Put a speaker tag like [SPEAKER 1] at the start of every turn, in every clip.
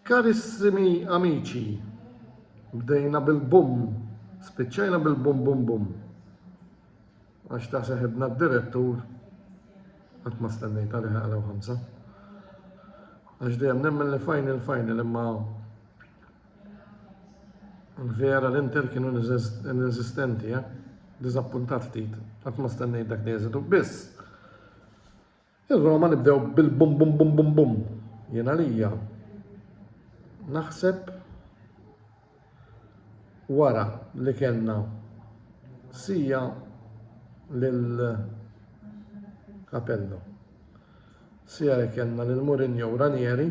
[SPEAKER 1] Karissimi amici, bdejna bil-bum, spiċċajna bil-bum bum bum. Għax ta' seħibna d-direttur, għat ma stennejta li ħaqraw ħamsa. Għax dejjem nemmen li final final imma vera l-Inter kienu inesistenti, eh? Dizappuntat ftit, għat ma stennejt dak li jeżitu. Biss, Ir-Roma nibdew bil bum bum bum bum bum. Jien għalija naħseb wara li kellna sija lil Capello. Sija li kellna lil Mourinho u Ranieri.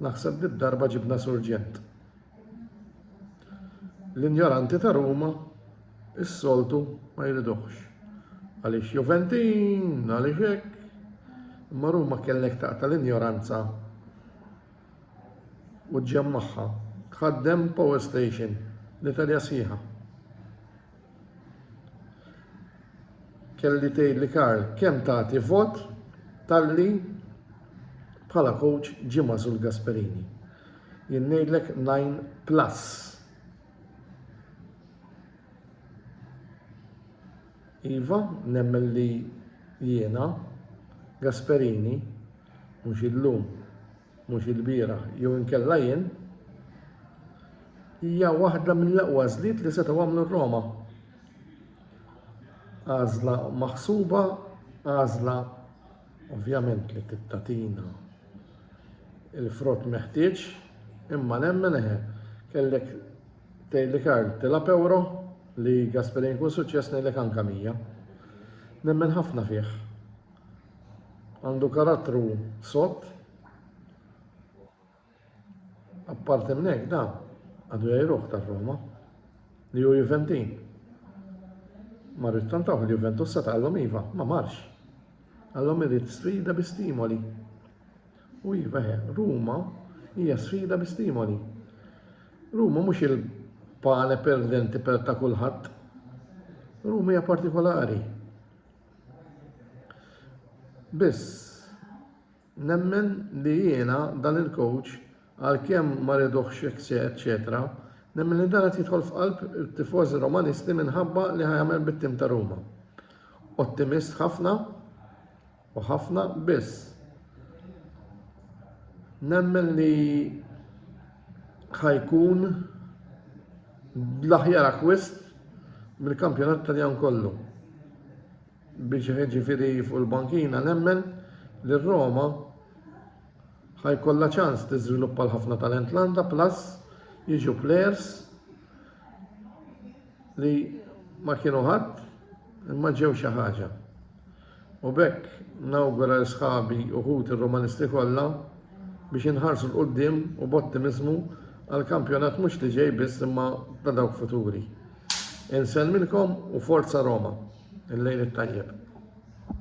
[SPEAKER 1] Naħseb li darba ġibna surġent. L-injoranti ta' Ruma is-soltu ma jridux. Għaliex Juventin, għaliex hekk. Imma Ruma kellek taqta' l-injoranza u ġġemmagħha. Tħaddem power station l-Italja sħiħa. Kelli tgħidli Karl kemm tagħti vot talli bħala coach ġie magħżul Gasperini. Jien ngħidlek 9 plus. Iva, nemmen li jiena Gasperini mhux illum mhux ilbieraħ jew inkella jien, hija waħda mill-aqwa għażliet li setgħu għamlu r-Roma. Għażla maħsuba, għażla ovvjament li tittatina il-frott meħtieġ, imma nemmen eħe, kellek tejli Karl tela pewro li Gasperin kun suċċess nejlek anka mija. Nemmen ħafna fih, Għandu karattru sott. Apparti minn hekk dan għadu jgħiruh tar-Roma li hu Juventin. Ma rrid tant tagħmel Juventus se taqallhom iva, ma marx. Għallhom irid sfida bi stimoli. U iva he, Ruma hija sfida bi stimoli. Ruma mhux il-pane perdenti per ta' kulħadd. Ruma hija partikolari. Biss nemmen li jiena dan il-coach għalkemm ma riduhx eċċetera, nemmen li dan qed jidħol f'qalb it-tifożi Romanisti minħabba li ħa jagħmel bit-tim ta' Ruma. Ottimist ħafna u ħafna biss nemmen li ħa jkun bl-aħjar akkwist mill-kampjonat Taljan kollu. Biex jiġifieri fuq il-bankina nemmen li r-Roma ħa jkollha ċans tiżviluppa l-ħafna talent li għandha plus jiġu plejers li ma kienu ħadd imma ġew xi ħaġa. U b'hekk nawgura lil sħabi u ħuti Rumanisti kollha biex inħarsu 'l quddiem u b'ottimiżmu għal kampjonat mhux li ġej biss imma ta' dawk futuri. Insellmilkom u Forza Roma! Il-lejl it-tajjeb.